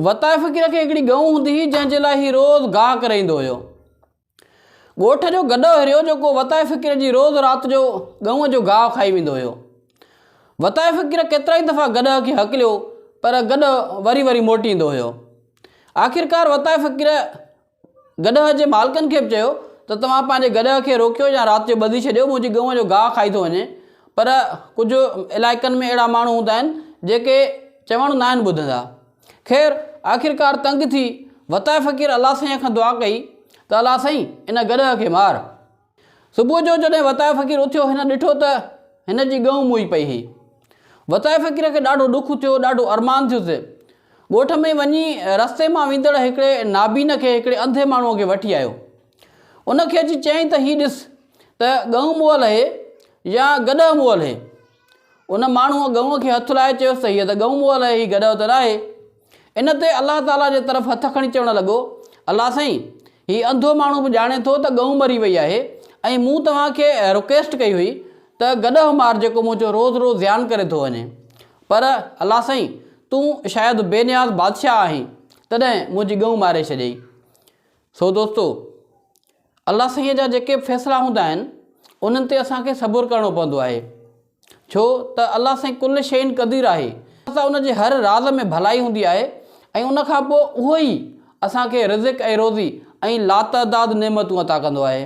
وتائي فقير کي هڪڙي ڳئون هوندي هئي، جنهن جي لاء هي روز گاهه ڪرائيندو هيو. ڳوٺ جو گڏهو هريو جو ڪو وتائي فقير جي روز رات جو ڳئون جو گاهه کائي ويندو هيو. وتائي فقير ڪيترائي دفعا گڏهه کي هڪليو پر گڏهه وري وري موٽي ايندو هيو. آخرڪار وتائي فقير گڏهه جي مالڪن کي به چيو ته توهان پنهنجي گڏهه کي روڪيو يا رات جو ٻڌي ڇڏيو، منهنجي ڳئون جو گاهه کائي ٿو وڃي. پر ڪجهه علائقن ۾ اهڙا ماڻهو هوندا آهن، جيڪي چوڻ ناهن ٻڌندا. خير، آخرڪار تنگ ٿي وتايي فقير الله سائينء کان دعا ڪئي ته الله سائين، ان گڏهه کي مار. صبح جو جڏهن وتايو فقير اٿيو هن ڏٺو ته هن جي ڳئون موئي پئي هئي. وتايو فقير کي ڏاڍو ڏک ٿيو، ڏاڍو ارمان ٿيس. ڳوٺ ۾ وڃي رستي مان ويندڙ هڪڙي نابين کي هڪڙي انڌي ماڻهوء کي وٺي آيو. ان کي اچي چيائين ته هي ڏس ته ڳئون موئل هي يا گڏهه موئل هي. ان ماڻهوء ڳئونء کي هٿ لائي چيس ته هيء ته ڳئون مئو الاهي هي گڏهه ته ناهي؟ ان تي الله تعاليٰ جي طرف هٿ کڻي چوڻ لڳو، الله سائين! هي انڌو ماڻهو به ڄاڻي ٿو ته ڳئون مري وئي آهي ۽ مون توهان کي رڪويسٽ ڪئي هئي ته گڏهه مار جيڪو منهنجو روز روز زيان ڪري ٿو وڃي. پر الله سائين! تون شايد بي نياز بادشاهه آهين، تڏهن منهنجي ڳئون ماري ڇڏيئي. سو دوستو! الله سائين جا جيڪي به فيصلا هوندا آهن انهن تي اسان کي صبر ڪرڻو پوندو آهي ڇو ته الله سائين ڪل شيء قدير آهي ته ان جي هر راز ۾ ڀلائي هوندي آهي ۽ ان کان پوء اهو ئي اسان کي رزق ۽ روزي ۽ لاتعداد نعمتون عطا ڪندو آهي.